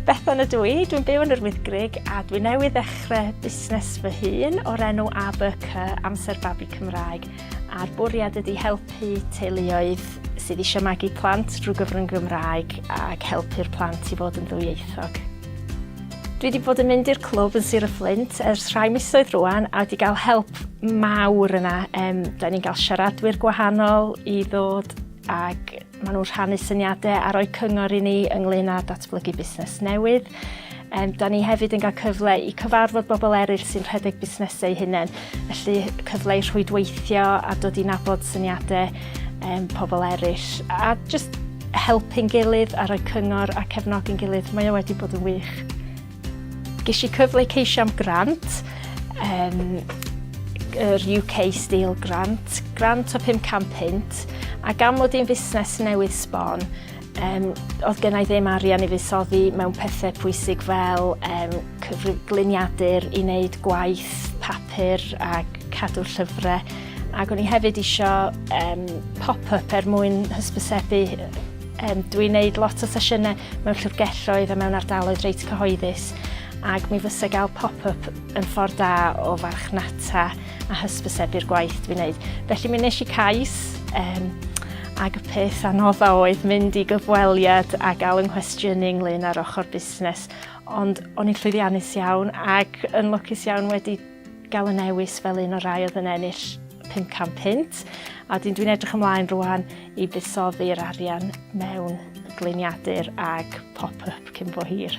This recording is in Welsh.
Bethan ydw i, dwi'n byw yn yr Wyddgrug a dwi newydd ddechrau busnes fy hun o'r enw ABC, Amser Babi Cymraeg, a'r bwriad ydy helpu teuluoedd sydd eisiau magu plant drwy gyfrwng Gymraeg ac helpu'r plant i fod yn ddwyieithog. Dwi wedi bod yn mynd i'r clwb yn Sir y Fflint ers rhai misoedd rwan a wedi cael help mawr yna. Um, da ni'n cael siaradwyr gwahanol i ddod ac maen nhw'n rhannu syniadau a rhoi cyngor i ni ynglyn â datblygu busnes newydd. Um, da ni hefyd yn cael cyfle i cyfarfod bobl eraill sy'n rhedeg busnesau hunain, felly cyfle i rhwydweithio a dod i nabod syniadau um, pobl eraill a just helpu'n gilydd a rhoi cyngor a cefnogi'n gilydd. Mae o wedi bod yn wych. Ges i cyfle i ceisio am grant, um, yr UK Steel Grant, grant o 500 punt, a gan mod i'n fusnes newydd sbon, Um, oedd gennau ddim arian i fuddsoddi mewn pethau pwysig fel um, cyfrigluniadur i wneud gwaith papur a cadw llyfrau. Ac o'n i hefyd eisiau um, pop-up er mwyn hysbysebu. Um, Dwi'n gwneud lot o sesiynau mewn llyfrgelloedd a mewn ardaloedd reit cyhoeddus ac mi fysa gael pop-up yn ffordd da o farchnata a hysbysebu'r gwaith dwi'n wneud. Felly mi nes i cais um, ac y peth anodda oedd mynd i gyfweliad a gael yng nghwestiynu ynglyn â'r ochr busnes. Ond o'n i'n llwyddiannus iawn ac yn lwcus iawn wedi gael y newis fel un o'r rai oedd yn ennill 500 pint. A dyn dwi'n edrych ymlaen rwan i buddsoddi'r arian mewn gliniadur ag pop-up cyn bo hir.